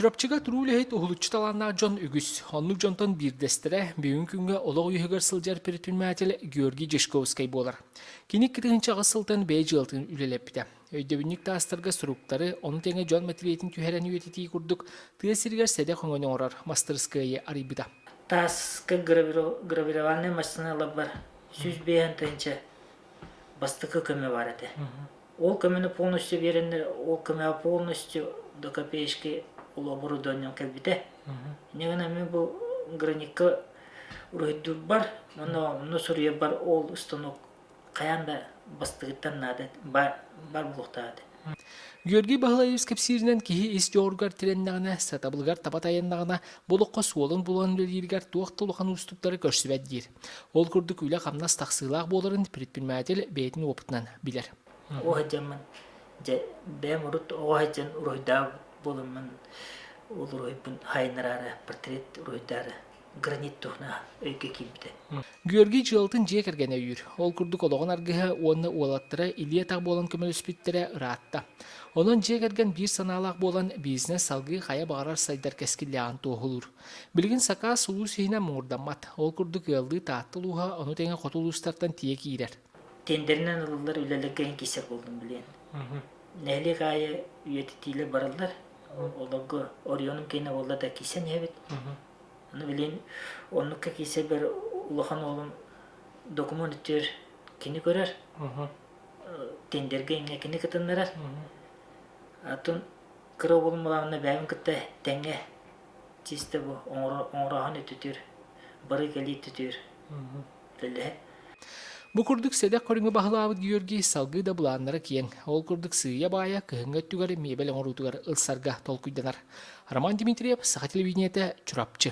Чурапчыга туруу үлэһит, уһулуччу талааннаах дьон үгүс. Оннук дьонтон биирдэстэрэ, бүгүнҥү күҥҥэ олох үөһүгэр сылдьар предприниматель Георгий Жешковскай буолар. Кини икки тыһыынча аҕыс сылтан бэйэ дьыалатын үлэлэппитэ. Өйдөбүнньүк таастарга суруктары, ону тэҥэ дьон мэтириэтин түһэрэн үөтэтии курдук, тыа сиригэр сэдэх өҥөнү оҥорор мастырыскыайы арыйбыта. Тааска гравирование массыыналарбар сүүс биэһ тыһыынча бастакы көмө баар этэ. Ол көмөнү полностью биэрэннэр, ол көмөҕө полностью до копеечки ол оборудованием кэлбитэ. Ини гынан эмиэ бу граникка уруһуйдуурбар, онно онно суруйарбар ол станок хайаан да бастыгыттан наада, бар бар буолуохтаах этэ. Георгий Баһылаевич кэпсииринэн киһи ис дьоҕуругар тирэннэҕинэ, сатабылыгар таба тайаннаҕына, бұл окко суолун булан үлэлииригэр туох да улахан уустуктары көрсүбэт диир. Ол курдук үлэ-хамнас тахсыылаах буоларын предприниматель бэйэтин опытынан билэр. Оҕо сылдьаммын дьэ бэйэм урут оҕо сылдьан уруһуйдаабыт буоламмын ол уруһуйбун хайыннараары портрет уруһуйдаары гранит туһунан өйгө киирбитэ. Георгий дьыалатын дьиэ кэргэнэ өйүүр. Ол курдук олоҕун аргыһа уонна уолаттара илии-атах буолан көмөлөспүттэрэ ыраатта. Онон дьиэ кэргэн биир санаалаах буолан бизнес салгыы хайа баҕарар сайдар кэскиллээҕин туоһулуур. Билигин сакаас улуус иһинэ муҥурдаммат. Ол курдук ыаллыы Таатта улууһа ону тэҥэ хоту улуустартан тиийэ киирэр. Тендеринэн ылыллар үлэлэр кэһэн киирсэр буоллун билиэн. Нэһилиэк аайы үйэтитиилэр бараллар. Олорго Орионум киэнэ буолла да киирсэн иһэбит. Аны билиэн оннукка киирсэрбэр улахан уолум документ үтүөр кини көрөр. Тендергэ ингэ кини кытыннарар. Атын кыра уолум балаҕанна бэйэбин кытта тэҥҥэ тиистэ бу оҥороһон үтүтүр, бары кэлии түтүр дэлэһэ Бу курдук сэдэх көрүҥү баһылаабыт Георгий салгыы да былааннара киэҥ. Ол курдук сыыйа-баайа кыһыҥҥы өттүгэр миэбэл оҥоруутугар ылсарга толкуйданар. Роман Дмитриев, Саха телевидениете, Чурапчы.